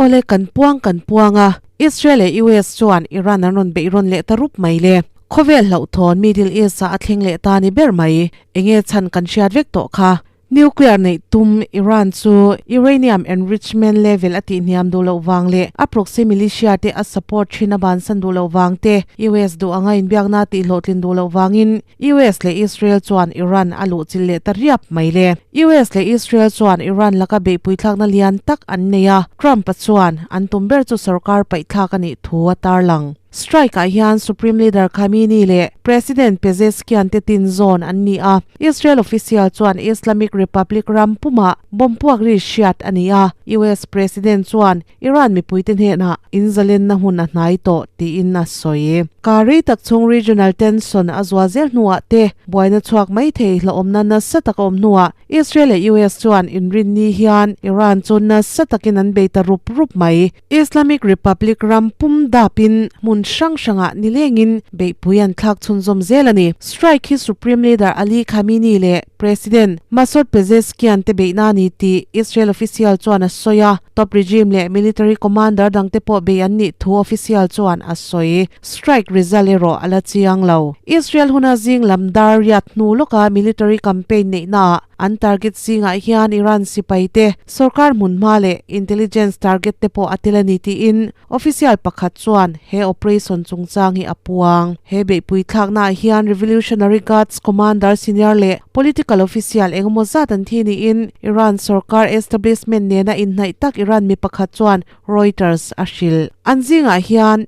Awle kan puang kan puang a, Israel leh US chuan Iran an rawn beihrawn leh ta rup mai le. Khawvel hlauhthawn Middle East ah a thleng leh ta a ni ber mai, enge chhan kan hriat vek tawh kha. Nuclear neih tum Iran chu Uranium enrichment level a tihniam duh loh vang leh a proxy militia te a support thin a bansan duh loh vang te US duh anga inbiakna tihhlawhtlin duh loh vangin US leh Israel chuan Iran a luhchilh leh ta riap mai le. US leh Israel chuan Iran laka beihpuithlakna lian tak an nei a, Trump-a chuan an tum ber chu sorkar paihthlak a nih thu a tarlang. Strike ah hian Supreme Leader Khamenei leh President Pezeshkian te tinzawn an ni a. Israel official chuan Islamic Republic ram pumah bomb puak ri hriat a ni a. US President chuan Iran mipui te hnenah in zalenna hun a hnai tawh tiin a sawi. Kar rei tak chung regional tension a zual zel hnuah te buaina chhuak maithei hlauhawmna nasa tak a awm hnuah Israel leh US chuan inrinni hian Iran chu nasa takin an bei ta rup rup mai. Islamic Republic ram pum dap in hmun hrang hrangah nileng in beihpui an thlak chhun zawm zel a ni. Strike hi Supreme Leader Ali Khamenei leh President Masoud Pezeshkian te beihna a ni tih Israel official chuan a sawi a, top regime leh military commander dangte pawh bei an nih thu official chuan a sawi. Strike result erawh a la chiang lo. Israel huna zing lam dar riat hnu lawka military campaign neihnaah an target zingah hian Iran sipai te, Sorkar hmunhma leh intelligence target te pawh a tel a ni tiin official pakhat chuan he operation chungchang hi a puang. He beihpui thlaknaah hian Revolutionary Guards commander senior leh political official engemaw zat an thi niin Iran sorkar establishment nena inhnaih tak Iran mi pakhat chuan Reuters a hrilh. An zingah hian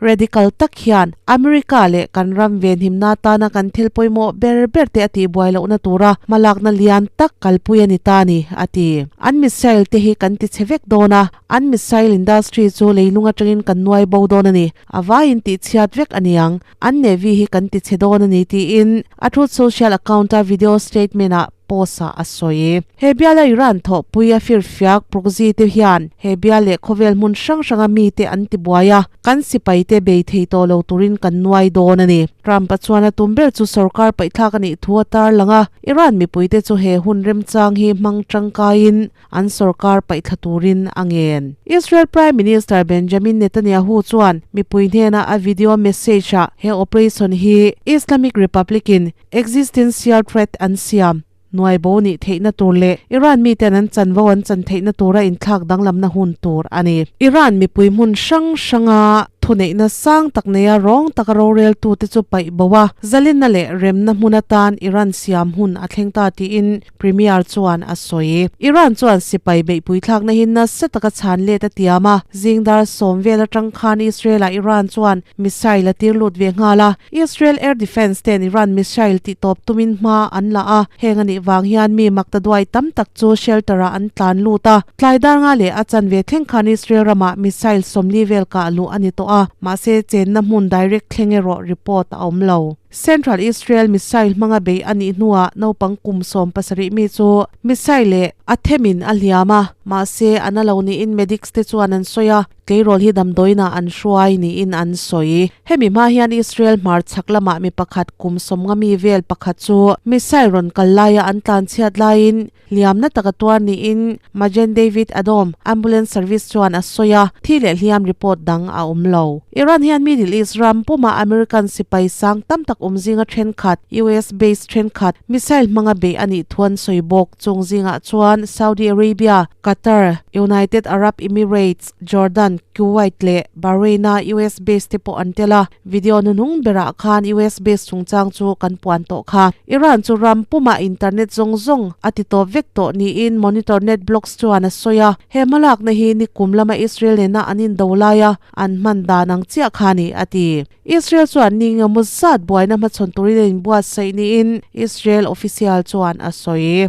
Radical tak hian America leh kan ram ve hnimna atana kan thil pawimawh ber ber te a tihbuai lohna tura hmalakna lian tak kalpui a ni ta ni, a ti. An missile te hi kan tichhe vek dawn a, an missile industry chu leilung atangin kan nuai bo dawn a ni, a vaiin tih chhiat vek a niang. An Navy hi kan tichhe dawn a ni, tiin a Truth Social account-a video statement-ah Post-a a sawi e. He biala Iran thawhpui a firfiak Proxy-te hian he bial leh khawvel hmun hrang hranga mite an tibuai a, kan sipaite bei thei tawh lo turin kan nuai dawn a ni. Trump-a chuan a tum ber chu sorkar paihthlak a nih thu a tar lang a, Iran mipuite chu he hun remchang hi hmang tangkaiin an sorkar paihtla turin a ngen. Israel Prime Minister Benjamin Netanyahu chuan mipui hnena a video message-ah he operation hi Islamic Republic-in Existencial threat an siam. Nuaibo nih theihna tur leh Iran mi ten an chanvo an chan theihna tura inthlak danglamna hun tur a ni. Iran mipui hmun hrang hranga thuneihna sang tak neia rawng taka roreltute chu paihboa, zalinna leh remna hmuna tan Iran siam hun a thleng ta tiin, Premier chuan a sawi. Iran chuan sipai beihpui thlakna hi nasa taka chhan let a tiam a. Zingdar sawm vel atang khan Israel ah Iran chuan missile a tir lut ve nghal a. Israel Air Defence ten Iran missile tihtawp tumin hma an la a. Heng anih vang hian mi makta duai tam tak chu shelter ah an tlan lut a. Tlai darnga leh a chanve thleng khan Israel ramah missile sawmli vel kah luh a ni tawh a. Mahse chenna hmun direct thleng erawh report a awm lo. Central Israel missile hmanga bei a nih hnuah naupang kum sawm pasarih mi chu missile e a them in a hliam a, mahse an a lo niin medics te chuan an sawi a, tleirawl hi damdawiinah an hruai niin an sawi. Hemi hma hian Israel hmarchhak lamah mi pakhat kum sawmnga mi vel pakhat chu missile rawn kal laia an tlanchhiat laiin Hliamna taka tuar niin Magen David Adom Ambulance Service chuan a sawi a, thi leh hliam report dang a awm lo. Iran hian Middle East ram pumah American sipai sang tam tak awm zinga thenkhat, US base thenkhat, missile hmanga beih a nih thu an sawi bawk. Chung zingah chuan Saudi Arabia, Qatar, United Arab Emirates, Jordan, Kuwait leh Bahrain-a US base te pawh an tel a, video hnu hnung berah khan US base chungchang chu kan puan tawh kha. Iran chu ram pumah internet zawng zawng a ti tawp vek tawh niin Monitor Net Blocks chuan a sawi a, he hmalakna hi nikum lama Israel nena an indo laia an hman dan ang chiah kha a ni, a ti. Israel chuan ni engemaw zat buaina hmachhawn turin a inbuatsaih niin Israel official chuan a sawi.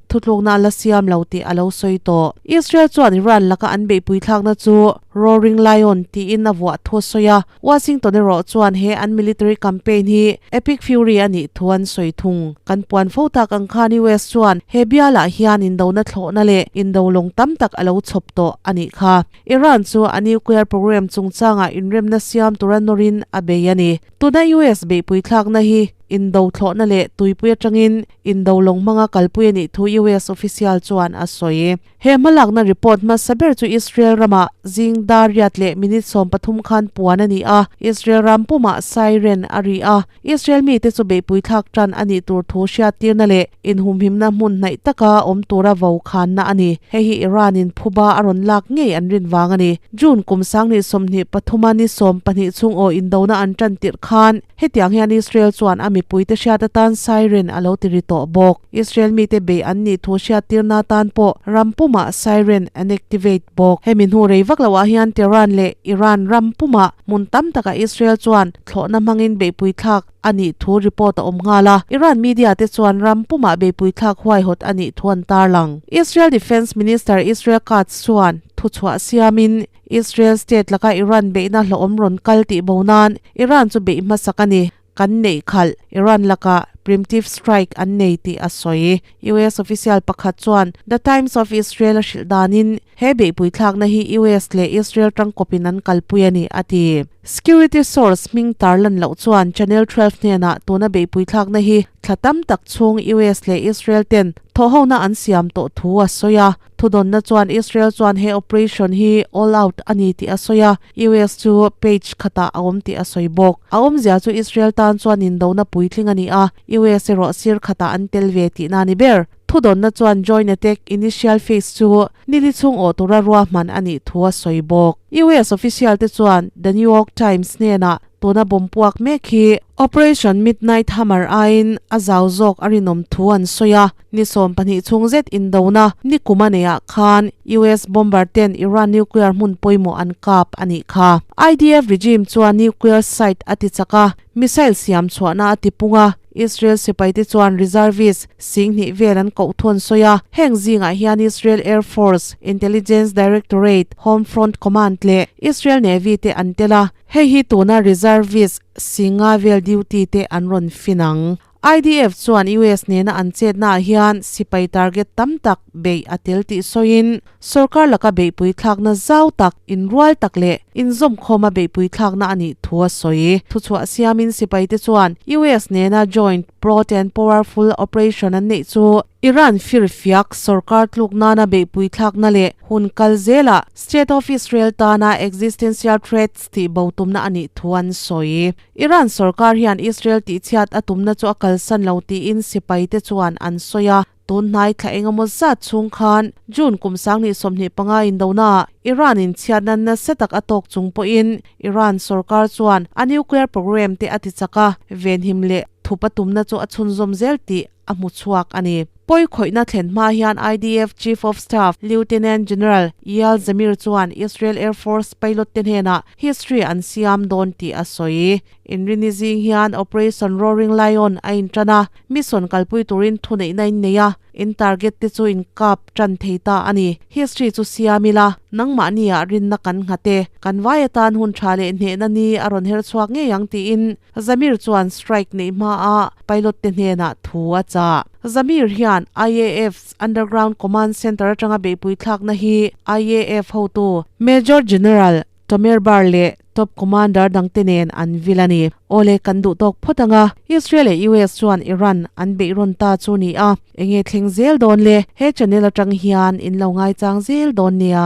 Thutlukna a la siam lo tih a lo sawi tawh. Israel chuan Iran laka an beihpui thlakna chu Roaring Lion tiin a vuah thu a sawi a, Washington erawh chuan he an military campaign hi Epic Fury a nih thu an sawi thung. Kan puan fo tak ang khan US chuan he bialah hian indona thlawhna leh indo lawng tam tak a lo chhawp tawh a nih kha. Iran chu a nuclear program chungchangah inremna siam tur a nawrin a bei a ni. Tuna US beihpui thlakna hi indo thlawhna leh tuipui atangin Indo lawng hmanga kalpui a nih thu US official chuan a sawi. He hmalakna report hmasa ber chu Israel rama zing dar riat leh minute sawm pathum khan puan a ni a, Israel ram puma siren a ri a. Israel mite chu beihpui thlak tan a nih tur thu hriattirna leh inhumhimna hmun hnaih taka awm tura vo khanna a ni. Hei hi Iran-in phuba a rawn lak ngei an rin vang a ni. June kum sang ni sawmhnih pathuma ni sawm pahnih chung aw indona an tan tirh khan, Hetiang hian Israel chuan a mipuite hriat atan siren a lo ti ri tawh bawk. Israel mite bei an nih thu hriattirna atan pawh ram puma siren an activate bawk. Hemi hnu rei vak loah hian Tehran leh Iran ram puma hmun tam takah Israel chuan thlawhna hmangin beihpui thlak a nih thu report a awm nghal a, Iran media te chuan ram puma beihpui thlak huaihawt a nih thu an tarlang. Israel Defence Minister Israel Katz chuan thuchhuah siamin, Israel state laka Iran beihna hlauhawm rawn kal tih bo nan Iran chu beih hmasak a ni, kan neih khalh Iran laka preemptive strike an nei tih a sawi. US official pakhat chuan The Times of Israel a hrilh danin he beihpui thlakna hi US leh Israel tangkawpin an kalpui a ni, a ti. Security source hming tar lan loh chuan Channel Twelve hnenah tuna beihpui thlakna hi thla tam tak chhung US leh Israel ten thawhhona an siam tawh thu a sawi a. Thudawnna chuan Israel chuan he operation hi all out a ni tih a sawi a, US chu page khatah a awm tih a sawi bawk. A awmzia chu Israel tan chuan indona puitling a ni a, US erawh sir khatah an tel ve tihna a ni ber. Thudawnna chuan joint attack initial phase chu nili chhung awh tura ruahman a nih thu a sawi bawk. US official te chuan The New York Times hnenah Tun a bawm puak mek hi Operation Midnight Hammer aiin a zau zawk a rinawm thu an sawi a. Ni sawm pahnih chhung zet indona ni kuma neiah khan US bomber ten Iran nuclear hmun pawimawh an kap a nih kha. IDF regime chuan nuclear site a tichak a, missile siam chhuahna a tipung a, Israel sipaite chuan reservist sing hnih vel an koh thu an sawi a. Heng zingah hian Israel Air Force, Intelligence Directorate, Home Front Command leh Israel Navy te an tel a. Hei hi tuna reservist singa vel duty te an rawn fin ang. IDF chuan US nena an chetna ah hian sipai target tam tak beih a tel tih sawiin sorkar laka beihpui thlakna zau tak, inrual tak leh inzawmkhawma beihpui thlakna a nih thu a sawi. Thuchhuah siamin sipai te chuan US nena Joint Broad and Powerful Operation an neih chu Iran fir fiak sorkar tluk nana beihpui thlakna leh hun kal zela State of Israel tana existential threats tih bo tumna a nih thu an sawi. Iran sorkar hian Israel tihchhiat a tumna chu a kalsan lo tiin sipai te chuan an sawi a. Tun hnai thla engemaw zat chhung khan June kum sanghnih sawmhnih panga indonaah Iran-in chhiatna nasa tak a tawk chung pawhin Iran sorkar chuan a nuclear programme te a tichak a venhim leh thup a tumna chu a chhunzawm zel tih a hmu chhuak a ni. Pawi khawihna thlen hma hian IDF Chief of Staff Lieutenant General Eyal Zamir chuan Israel Air Force pilot te hnenah history an siam dawn tih a sawi. Inrini zing hian Operation Roaring Lion a inṭan a, mission kalpui turin thuneihna in nei a, in target te chu inkap ṭan thei ta a ni. History chu siam ila, nangmahni ah rinna kan nghat e, kan vai atan hun ṭha leh hnehna ni a rawn her chhuak ngei ang tiin Zamir chuan strike neih hma a pilot te hnenah thu a chah. Zamir hian IAF's Underground Command Centre atanga beihpui thlakna hi IAF hotu Major General Tomer Bar leh Top Commander dangte nen an vil a ni. Aw le, kan duh tawk phawt ang a, Israel leh US chuan Iran an beih rawn ta chu ni a, enge thleng zel dawn le, he channel atang hian in lo ngaichang zel dawn nia.